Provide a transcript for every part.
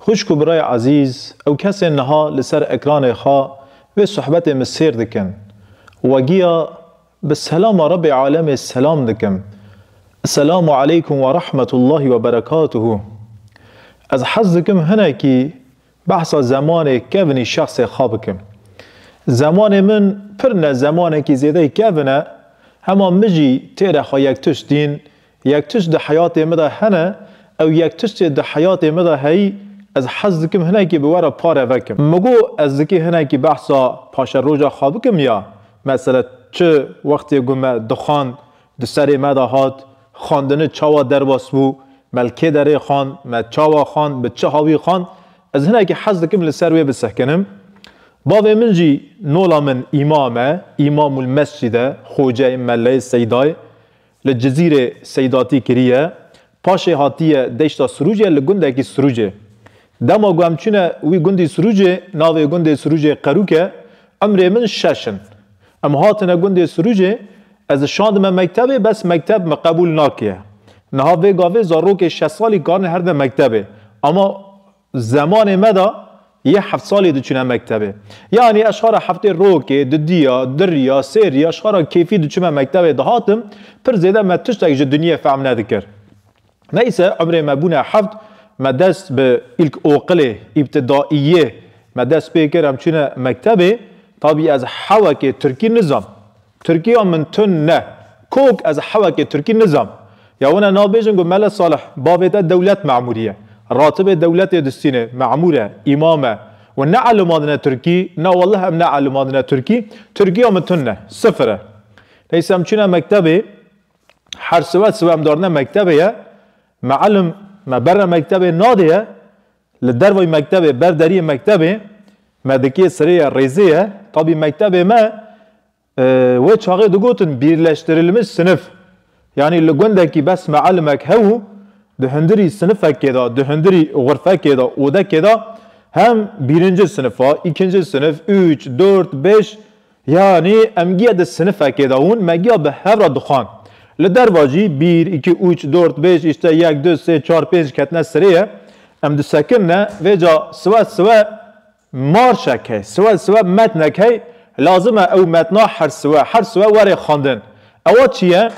Xwişk û birayê ezîz, ew kesên niha li ser ekranê xwe vê sohbetê min sêr dikin, we giya bi selama Rebê Alemê selam dikim, Esselamu Aleykum ve Rahmetullahî ve Berekatuhu. Ez hez dikim hinekî behsa zemanê kevinî şexsê xwe bikim. Zemanê min pir ne zemanekî zêdeyî kevin e, hema min jî têre xwe yektişt dîn Yek tişt di heyatê min de hene, ew yek tiştê di heyatê min de heyî, ez hez dikim hinekî bi we re pare vekim. Min got, ez dikî hinekî behsa paşeroja xwe bikim ya? Mesele çi wextê ku me dixwand, di serê me de hat, xwendini çawa derbas bû, me li kê derê xwand, me çawa xwand, bi çi hawî xwand, ez hinekî hez dikim li ser wê bisehkinim. Bavê min jî, nola min îmam e, îmamul mescîd e, xoce, melleyê seyda ye. Li Cizîrê Seydatî kiriye. Paşê hatiye Deşta Sirûcê li gundekî Sirûcê. Dema ku em çûne wî gundî Sirûcê, navê gundê Sirûcê Qerûk e. Umrê min şeş in. Em hatine gundê Sirûcê, ez şandime mektebê bes mekteb min qebûl nakiye. Niha vê gavê zarokê şeş salî karine herde mektebê. Ama Zemanê me de yê heft salî diçûne mektebê. Yanî ez xara heftê rokê, didiya, diriya, sêriya, xara kêfî diçûme mektebê dihatim, pir zêde me tiştek ji dinyê fehm nedikir. Neyse umrê me bûne heft, me dest bi ilk oqilê, îbtidaîyê, me dest pê kir em çûne mektebê, tabî ez hewekê tirkî nizan. Tirkiya min tund ne. Kok ez hewekê tirkî nizam. Ya wina nabêjin ku Mele Salih bavê te dewlet memurî ye. Ratibê dewletê distînê memur e, îmam e. Wan neelimandine tirkî, na wallah em neelimandine tirkî. Tirkiya min tund ne. Sifir e. Neyse em çûne mektebê. Her siwe siwe em darine mektebê ye. Mielim me bere mektebê nadê ye. Li dervayî mektebê, ber deriyê mektebê me dikê sirê ye, rêzê ye. Tabî mektebê me wê çaxê digotin Bîrleştirilmiş Sinif. Yanî li gundekî bes mialimek hebû, di hundirî sinifekê de, di hundirî xurfekê de, odekê de hem bîrincil sinif a, îkincil sinif, üç, dort, bêş Yanî em giya di sinifekê de hûn me giya bi hev re dixwand. Li derva jî bîr, îkî, ûç, dort, bêj, îşte, yek, du, sê, çar, pênc ketine sirê ye. Em disekin ne, vê ca siwe siwe marşek hey, siwe siwe metnek hey, lazim e ew metna her siwe her siwe were xwendin. Ewa çi ye?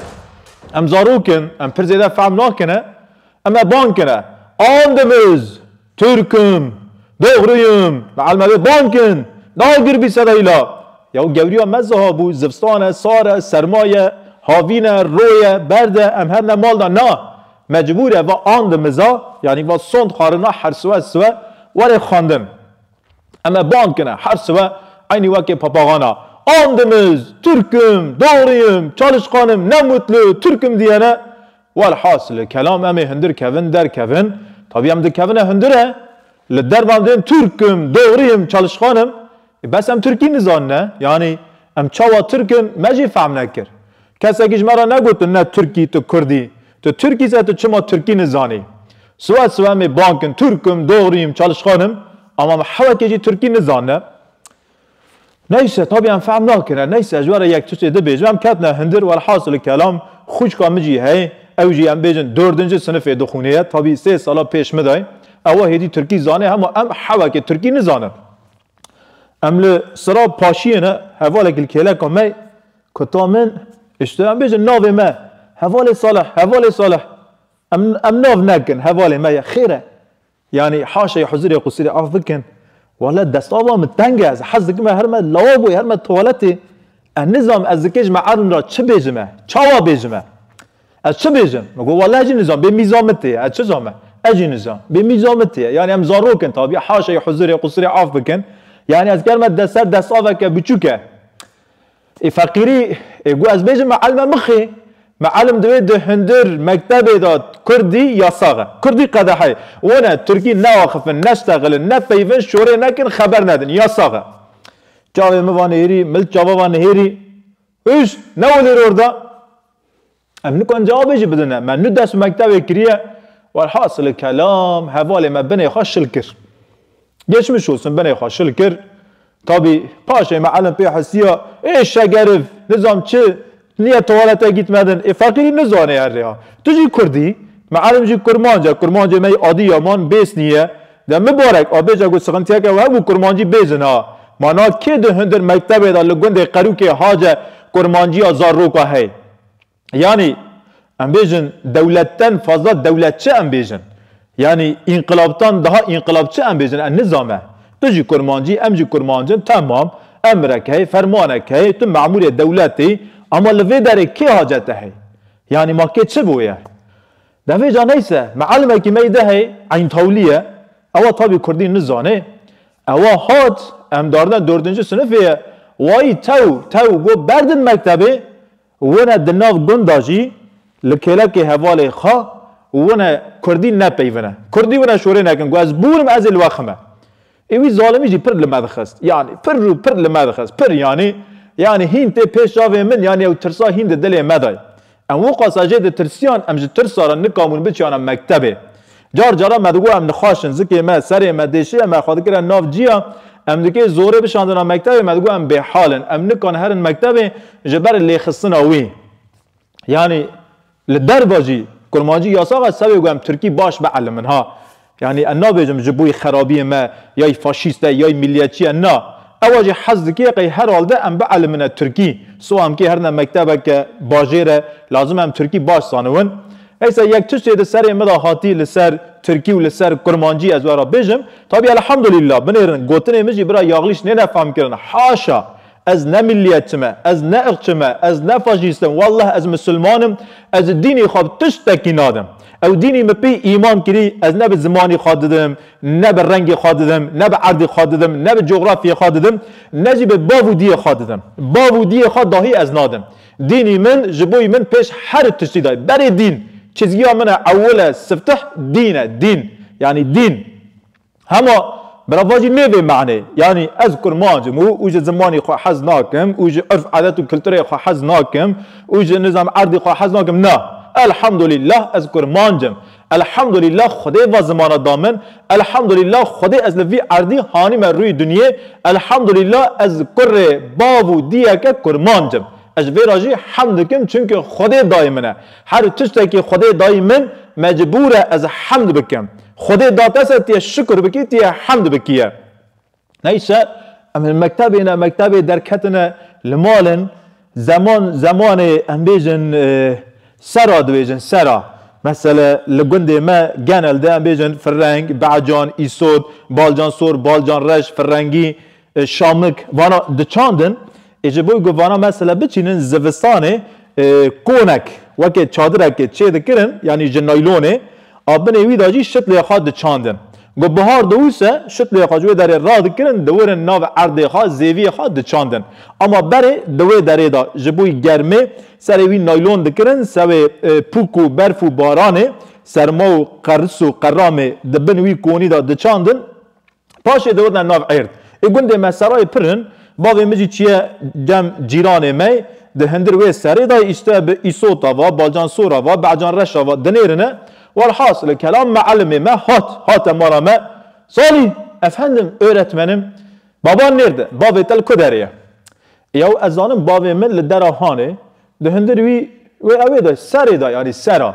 Em zarok in, em pir zêde fehm nakin e. Em e bang kin e. Andimiz! Tirk im. Doxrî im. Li Elmedê bank in. Nagir bî sedayîla. Yaw gewriya me ziha bû, zivstan e, sar e, serma ye, havîn e, ro ye, berd e, em hebne mal de na. Me cibûr e va an di miza, yanî va sond xwarina her siwe siwe were xwendin. Em e band kine her siwe eynî wekê papaxan a. An di miz, Tirk im. Doxrî im. Çalişqan im. Ne mutlu. Tirk im diyene. Welhasil kelam em ê hundir kevin der kevin, tabî em dikevine hundir e, li dervan dên Turk im, dogri im, çalişxan im, ê bes em Turkî nizanine, yanî em çawa Turk in me jî fehm nekir. Kesekî ji me re negot tu ne Turk î tu Kurd î, tu Turk î se tu çima Turkî nizanî. Siwe siwe em ê bankin Turk im, dogri im, çalişxan im, ama me hewekê jî Turkî nizanine. Neyse tabi em fehm nakin e neyse ji we re yek tusê dibêjim em ketine hindir welhasil kelam xwîçka min jî heye ew jî em bêjin dordinci sinifê dixwînê ye tabi sê sala pêş min de ye ewa hêdî tirkî zanê hema em hewekê tirkî nizanin. Em li sira paşiyê ne hevalek li kêleka me kuta min îşte em bêjin navê me hevalê Salih hevalê Salih em em nav nekin hevalê me ye xêr e Yanî haşê huzurê qusûrê af bikin. Wale destava min teng e, ez hez dikim me herme lawaboyê herme tuwaletê. Ez nizam ez dikê ji me erdin ra çi bêjim e, çawa bêjim e. Ez çi bêjim? Min got wale ez jî nizam bê mîza min tê ye, ez çi zam e. Ez jî nizam bê mîza min tê ye. Yanî em zarok in tabî haşê huzurê qusûrê af bikin. Yanî ez ger me dest ser destaveke biçûk e. Ê feqîrî ê ku ez bêjim mielme mixê. Mielm divê di hundir, mektebê de kurdî yasax e. Kurdî qedexe ye. Wan e tirkî neaxifin, nesteqilin, nepeyivin, şorê nekin, xeber nedin. Yasax e. Çavê min va nihêrî, mil çava va nihêrî. Hûşt! Ne welêr orda. Em nikan cevabê jî bidin e. Me nu ders û mektevê kiriye. Welhasilê kelam hevalê me binê xwe şil kir. Geçmiş olsun binê xwe şil kir. Tabî paşê me elim pê hisiya ê şegeriv nizam çi niye tuwalete gîtmedin ê feqîrî nizanê her rêya. Tu jî kurd î. Me elim jî kurmanc e. Kurmancê me yê adî yaman bês nîye. De mibarek a bêje ku sixintiyeke we hebû kurmancî bêzin a. Ma na kê di hundir mektevê de li gundê Qerûkê Hace kurmanciya zarroka heye. Yanî em bêjin dewletten fazla dewletçi em bêjin. Yanî înqilabtan daha înqilabçi em bêjin em nizame. Tu jî kurmancî em jî kurmancin temam emrek heye fermanek heye tu memûrê dewletê ama li vê derê kê hacete heye? Yanî ma kê çi boye? Demê ca neyse mialimekî me yê dehê Eyntawlî ye, ewa tabî kurdî nizanê, ewa hat emdarine dordinci sinifê ye, wayî tew tew go berdin mektebê, wine di nav gunda jî li kêlekê hevalê xwe wine kurdî nepeyvine. Kurdî wine şorê nekin ku ez bûr im ez ê li we xime. Ê wî zalimî jî pir li me dixist. Yanî pir û pir li me dixist. Pir yanî yanî hîn tê pêş çavê min yanî ew tirsa hîn di dilê me de ye. Em wiqas a jê ditirsiyan em ji tirsa re nikabûn biçiyana mektebê. Car caran me digot em nixweş in, zikê me, serê me, dêşiyê me xwe dikire nav ciya, em dikê zorê bişandina mektebê me digot em bêhal in, em nikan herin mektebê ji ber lêxistina wî. Yanî Li derve jî kurmancî yasak e, sewê ku em tirkî baş be elim in ha. Yanî em nabêjim ji bo xerabiyên me yay faşîst e yay miliyetçî ye na. Ewa jî hez dike qey her halde em bi elim in tirkî. Siwa em kê herine mektebeke bajêr e lazim e em tirkî baş zaniwin. Eysa yek tiştê di serê min de hatî li ser tirkî û li ser kurmancî ez were bêjim. Tabî elhamdulîllah binêrin gotinê min jî bira Yaglîş nêne fam kirin. Haşa! Ez ne milliyetçi me, ez ne irqçi me, ez ne faşîst im, wallah ez misilman im, ez ji dînê xwe bi tiştekî nadim. Ew dînê min pê îman kirî, ez ne bi zimanê xwe didim, ne bi rengê xwe didim, ne bi erdê xwe didim, ne bi cografyê xwe didim, ne jî bi bav û diyê xwe didim. Bav û diyê xwe dahî ez nadim. Dînê min ji bo min pêş her tiştî de ye. Berê dîn, çizgiya min e, ewil e, siftih, dîn e, dîn. Yanî dîn. Hema birava jî nê vê manê. Yanî ez kurmanc im û û ji zimanî xwe hez nakim û ji urf adet û kulturê xwe hez nakim û ji nizam erdî xwe hez nakim na. Elhamdulîllah ez kurmanc im. Elhamdulîllah xwedê va zimana da min. Elhamdulîllah xwedê ez li vî erdî hanîme rûyê dinyê. Elhamdulîllah ez kurê bav û diyeke kurmanc im. Ez ji vê ra jî hemd dikim çimkî xwedê dayî min e. Her tiştekî xwedê dayî min mecbûr e ez hemd bikim. Xwedê datese tê şikr bikî tê hemd bikiye. Neyse em li mektebê ne mektebê derketine li mal in zeman zemanê em bêjin sera dibêjin sera. Mesele li gundê me genel de em bêjin firreng, be'can, îsot, balcan sor, balcan reş, firrengî, Şamik, vana di çandin ê ji bo ku vana mesela biçînin zivistanê konek weke çadirekê çê dikirin yanî ji naylonê a binê wî de jî şitlê xwe diçandin. Ku bihar diwise şitlê xwe ji wê derê radikirin diwirin nav erdê xwe zêviyê xwe diçandin. Ama berê di wê derê de ji bo germê serê wî naylon dikirin sewê pûk û berf û baranê serma û qeris û qeramê di bin wî konî de diçandin. Paşê dewirne nav Êrd. Ê gundê me serayê pir in. Bavê min jî çiye dem cîranê me yê. Di hindir wê serê de yê îşte bi Îsota ve, Balcan Sora ve, Be'can Reşa ve dinêrine. Welhasil kelam me'elimê me hat. Hate mala me. Salî! Efendim öretmenim. Baban nêrd e. Bavê te li ku derê ye? Yaw ez zanim bavê min li dera hanê. Di hindir wî wê ewê de serê de yanî sera.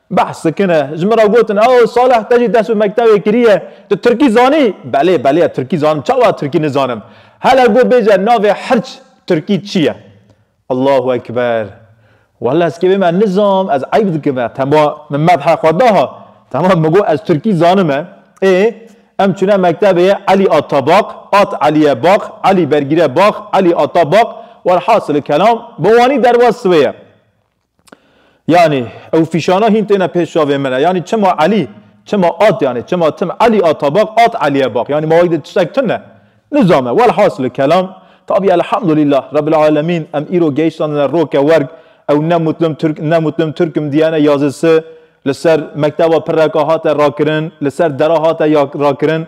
Behs dikine. Ji min re gotin, Oh Salih te jî ders bi mektewê kiriye, tu tirkî zanî? Belê belê ez tirkî zanim, çawa tirkî nizanim? Hele got bêje navê hirç tirkî çi ye? Allahu ekber. Wele ez kevê me nizam, ez eyb dikim e. Tema min medhê xwe da ha. Tema min got ez tirkî zanim e. Ê em çûne mektebê ye Elî Atabak, At Elîye Bak, Elî Bergîre Bak, Elî Atabak, welhasilî kelam bi wanî derbas wê ye. Yanî ew fîşana hîn têne pêş çavê min e. Yanî çima Elî, çima at yanî çima tim Elî ata bax, at Elîye bax. Yanî ma wek de tiştek tune. Nizame. Welhasili kelam, tabî elhamdulîllah Rebbil alemîn em îro gehîştandine roke werg, ew ne mutlim Tirk, ne mutlim Tirkim dîyene yazisi, li ser mekteba pirreka hate rakirin, li ser dera hate rakirin.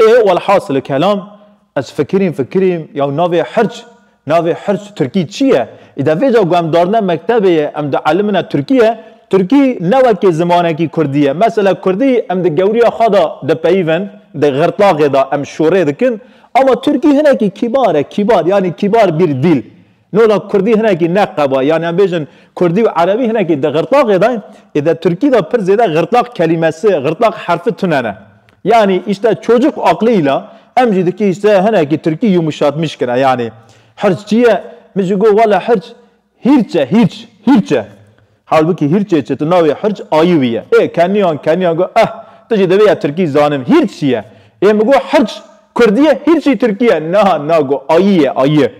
Ê welhasilê kelam ez fikirîm fikirîm yaw navê hirç navê hirç tirkî çi ye? Îde vê ca ku em darine mektebê ye em dielimine tirkî ye, tirkî ne wekî zimanekî kurdî ye. Mesela kurdî em di gewriya xwe de dipeyivin, di xirtlaxê de em şorê dikin ama tirkî hinekî kîbar e kîbar yanî kîbar bir dîl. Nola kurdî hinekî ne qeba yanî em bêjin kurdî û erebî hinekî di xirtlaxê de ê di tirkî de pir zêde xirtlax kelîmesi xirtlax herfi tune ne. Yanî îşte çocuk aqlî îla em jî dikî îşte hinekî tirkî yumuşatmîş kine yanî hirç çi ye? Min jî got wele hirç hîrç e hîrç hîrç e. Halbukî hîrçê çi tu navê hirç ayî wî ye. Ê keniyan keniyan got eh tu jî divê ya tirkî zanin hîrç çi ye? Ê min got hirç kurdî ye hîrçî tirkî ye. Na na got ayî ye ayî.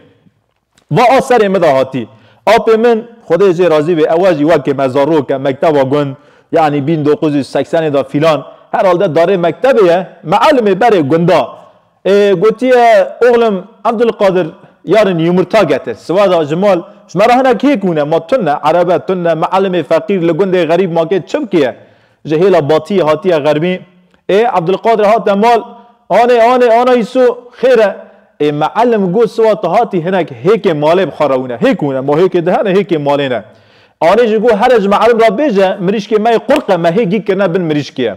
Va a serê min de hatî. Apê min Xwedê jê razî be ewa jî wekê me zarok e mekteba gund yanî bîn doquz û seksenê de fîlan herhalde darê mektebê ye, mielmê berê gunda. Ê gotiye oxlim Evdulqadir yarın yumurta getir. Siva da ji mal, ji me re hinek hêk hûne, ma tun ne, ereb e, tun ne, mialimê feqîr li gundê xerîb makê çi bikiye? Ji hêla batiyê hatiye xermî. Ê Evdulqadir hate mal, anê, anê, ana Îso, xêr e. Ê mialim got siva tu hatî hinek hêkê malê bi xwe re hûne. Hêk hûne, ma hêkê dihene, hêkê malê ne. Anê jî got here ji mialim re bêje, mirîşkê me yê qurq e, me hê gîg kirine bin mirîşkê ye.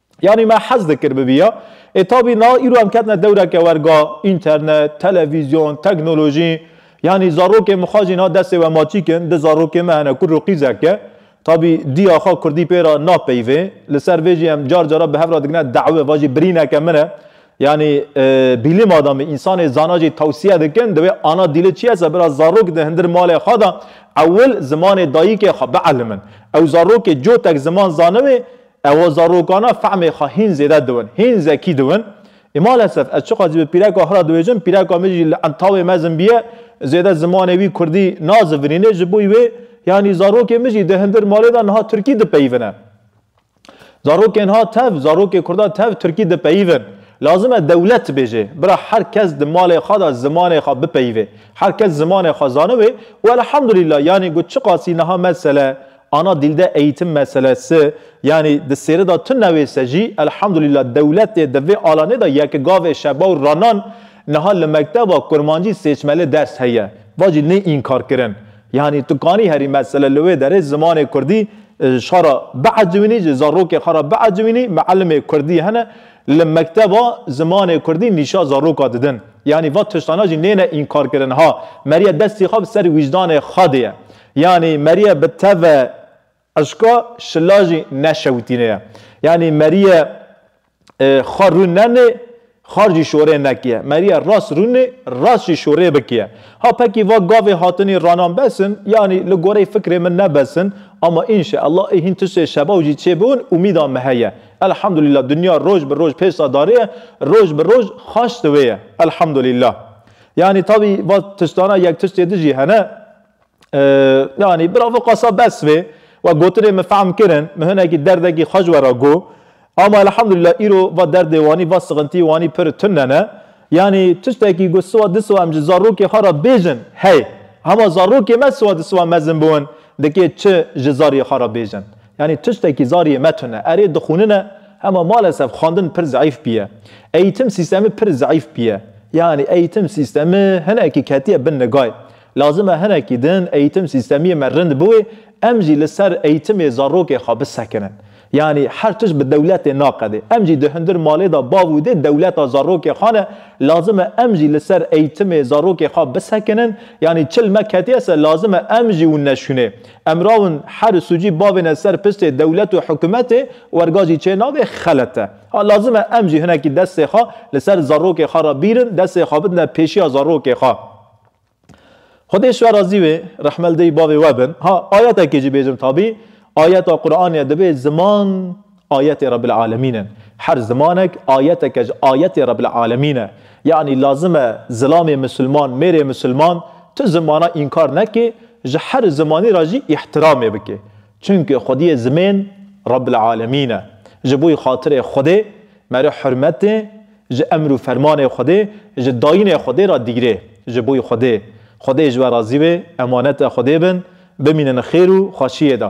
Yanî me hez dikir bibiya. Ê tabî na îro em ketine dewreke werga, înternet, televîzyon, teknolojî. Yanî zarokên mixwe jî na destê we maçîk in, di zarokê me hene kur û qîzek e. Tabî diya xwe kurdî pê re napeyivê. Li ser vê jî em car cara bi hev re digine dawê va jî birîneke min e. Yanî bîlim adamî, însanê zana jî tewsiye dikin divê ana dîli çi yese bira zarok di hindir malê xwe de ewil zimanê dayîkê xwe bielimin. Ew zarokê cotek ziman zaniwê Ewa zarokana fehmê xwe hîn zêde diwin, hîn zekî diwin. Ê malesef ez çiqas jî bi pîreka xwe re dibêjim, pîreka min jî li entawê mezin bûye, zêde zimanê wî kurdî nazivinîne, ji bo wê yanî zarokên min jî di hindir malê de niha tirkî dipeyivine. Zarokên ha tev, zarokê kurda tev tirkî dipeyivin. Lazim e dewlet bêje, bira her kes di malê xwe de zimanê xwe bipeyivê. Her kes zimanê xwe zaniwê û elhamdulîla yanî ku çiqasî niha mesele Ana dilde eğitim meselesi yanî di sêri de tu newêse jî elhamdulîla dewletê di vê alanê de ye ki gavê şeba û ranan niha li mekteba kurmancî sêçmeli ders heye va jî nê înkar kirin yanî tu kanî herî mesele li wê derê zimanê kurdî xwe re biecwînî ji zarokê xwe re biecwînî mielimê kurdî hene li mekteba zimanê kurdî nîşa zaroka didin yanî va tiştana jî nêne înkar kirin ha meriye destî xwe bi ser wîcdanê xwe dê ye. Yanî Merîye bi teve eşka şila jî neşewitîne ye. Yanî Merîye xwe rûn nenê, xar jî şorê nekiye. Merîye rast rûnê, rast jî şorê bikiye. Ha pekî va gavê hatinî ranan bes in, yanî li goreyê fikrê min ne bes in. Ama înşe ella ê hîn tiştê şebaw jî çêbiwin umîda me heye. Elhamdulîla dinya roj bi roj pêşda darê ye, roj bi roj xaş diwê ye. Elhamdulîla. Yanî tabî va tiştana yek tiştê di jî hene. Yanî bravo qasa bes vê. We gotinê min fehm kirin, min hinekî derdekî xwe ji we re got. Ama elhamdulillah îro va derdê wanî, va sixintiyê wanî pir tune ne. Yanî tiştekî ku siwa di siwa em ji zarokê xwe re bêjin heye. Hema zarokê me siwa di siwa mezin bûn dikê çi ji zariyê xwe re bêjin. Yanî tiştekî zariyê me tune. Erê dixwînine hema malesef xwendin pir zeîf bûye. Eîtim sîstemî pir zeîf bûye. Yanî eîtim sîstemî hinekî ketiye bin nigayê. Lazim e hinekî din eğîtim sîstemiyê me rind biwê, em jî li ser eğîtimê zarokê xwe bisekinin. Yanî her tişt bi dewletê naqedê. Em jî di hundir malê de bav û dê dewleta zarokê xwe ne. Lazim e em jî li ser eğîtimê zarokê xwe bisekinin. Yanî çil me ketiye ser lazim e em jî û neşûnê. Emrawin her sucî bavêne ser piştê dewlet û hikûmetê werga jî çê nabê xelet e. Ha lazim e em jî hinekî destê xwe li ser zarokê xwe re bîrin, destê xwe bidine pêşiya zarokê xwe. Xwedê şiwe razî wê rehmeldeyî bavê we bin. Ha ayetekê jî bêjim tabî ayeta Quranê divê ziman ayetê Rebbil Alemîn in. Her zimanek ayeteke ji ayetê Rebbil Alemîn e. Yanî lazim e zilamê misilman, mêrê misilman tu zimana înkar neke, ji her zimanî re jî îhtiramê bike. Çimkî xwediyê zimên Rabbîl Alemîn e. Ji bo xatirê Xwedê merê hurmetê ji emr û fermanê Xwedê, ji dayînê Xwedê re dîgirê. Ji bo Xwedê, Xwedê ji we razî be, emaneta Xwedê bin, bimînin xêr û xweşiyê de.